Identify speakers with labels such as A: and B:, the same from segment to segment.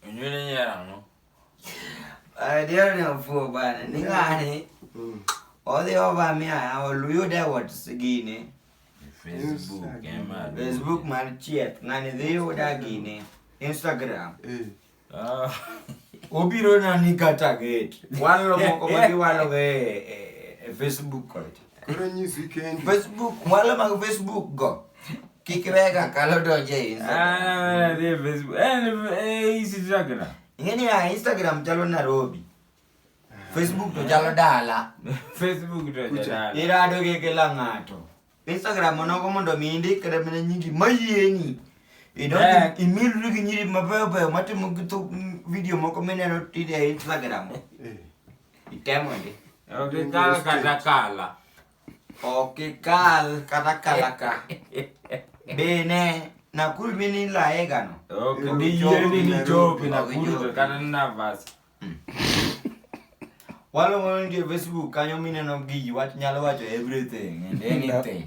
A: Onyuole nyar ang'o?
B: Adier ni ofuo bana, ni ng'ani odhi ova mi aya oluyude what's gine. Facebook
A: ema. Facebook mar
B: chieth, ng'ani dhi yuda gine. Instagram. Eh. Ah. Obiro na ni kata gate. Walo moko ma giwalo e, e, e Facebook kocha. Koro nyisi
C: kendi. Facebook, wale mag
B: Facebook go. Kik wega kalo donje e Instagram. Ah, the Facebook.
A: Eh, eh, Instagram. Ingeni ya
B: Instagram chalo Nairobi. Facebook to chalo dala. Facebook to
A: chalo dala. Irado ke kila
B: ng'ato. Instagram onogo mondo mi indik kata mana nyingi mayieni. Idonjo eh. imilri gi nyiri mabeyo beyo matimo video moko mineno tide e Instagram. Eh. Itemo ndi. Okikal
A: kata kala.
B: Okikal kata kala ka. Bene Nakuru mini laega no. Ok, ndi yeni
A: ni chopi Nakuru to kata ni Navas.
B: Walo mono nge Facebook kanyo mineno gi wach nyalo wacho everything and anything.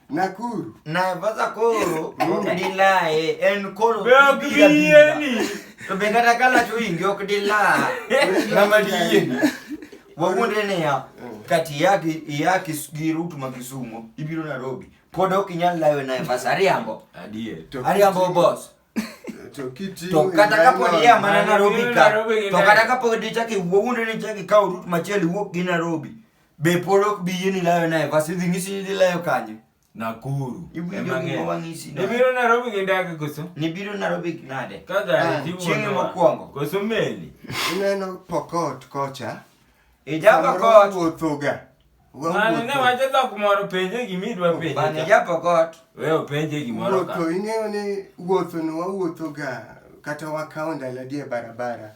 C: Nakuru. Naivasha
B: koro dilae en koro biyeni
A: to be kata
B: ka lacho ingi ok dilaa ng'ama diyieni wawuondre niya mm. kati iyaki gi rut ma Kisumo ibiro Nairobi pod ok inyal lawe Naivasha ariambo ariambo boss to kata kapod iya mana Nairobi ka to kata kapod ichaki wuowuondre ni ichaki kawo rut machielo iwuok gi Nairobi Be pod ok bi yieni layo Naivas? Idhi ng'isi ni idhi layo kanye? Nakuru.
A: Iwinjo Ema gima ng'e.
B: wang'isi no. Ibiro Nairobi gi
A: ndege koso? Nibiro Nairobi gi
B: nade? Ka Ah, gari tiwuono. chieng'e
A: mokwongo.
B: Koso meli.
A: Ineno
C: Pokot kocha. Ija Samoro
B: Pokot. Wuothoga. Mano
C: ne Wawuotho.
A: wacho dhok moro penje gima idwa Bana penje. ija Pokot.
B: We openje
A: gimoro ka. Wuotho, ing'eyo ni
C: wuothono wawuothoga kata wakawo ndalo adie barabara.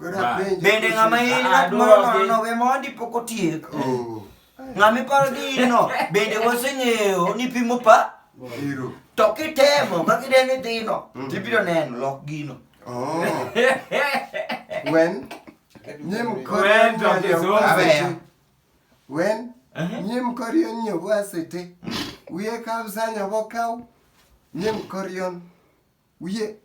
B: Bende ng'ama in ng'at moro nono we mondi pok otiek. Oh. Ng'ama iparo ni in no, bende waseng'eyo ni pimo pa. To
C: kitemo
B: ka kideni dhino, mm. tibiro neno lok gino. Oh.
C: When? Nyim kore When? Uh-huh. Nyim kore nyobo asete. Wiye kabisa nyobo kaw. Nyim kore wiye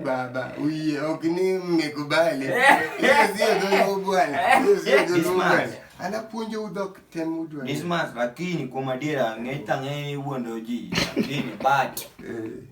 B: baba
C: uye okni mmekubali anapuonjo udhok tem udwa lakini
B: kuom adiera ng'e tang'e iwuondo ji lakini but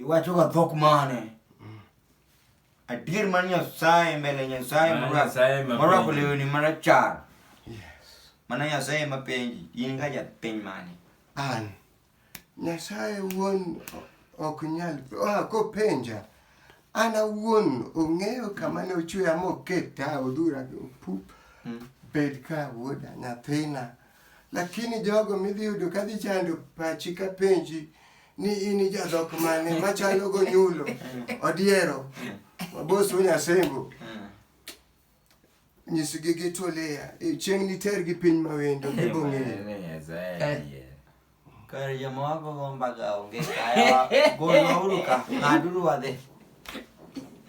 B: Iwacho ga dhok mane? Adier mar Nyasaye mbele Nyasaye Mar morwako- Nyasaye ma morwako penji. lewni marachar.
C: Mana Nyasaye
B: ma penji, in ga japiny mane? An.
C: Nyasaye wuon o- ok nyal ah, kopenja. An awuon ong'eyo kama ne ochweya moketa odhura pup. Bed ka wuoda nyathina. Lakini jogo midhi yudo ka dhi chando pachi ka penji ni in jadhok mane machalo gonyulo odiero mabosu nyasembo nyisigi gitolea e, chieng' nitergi piny mawendo gibong'eyo
B: kar joma wagogo mbaga onge kae golwauru ka ng'aduru wadhi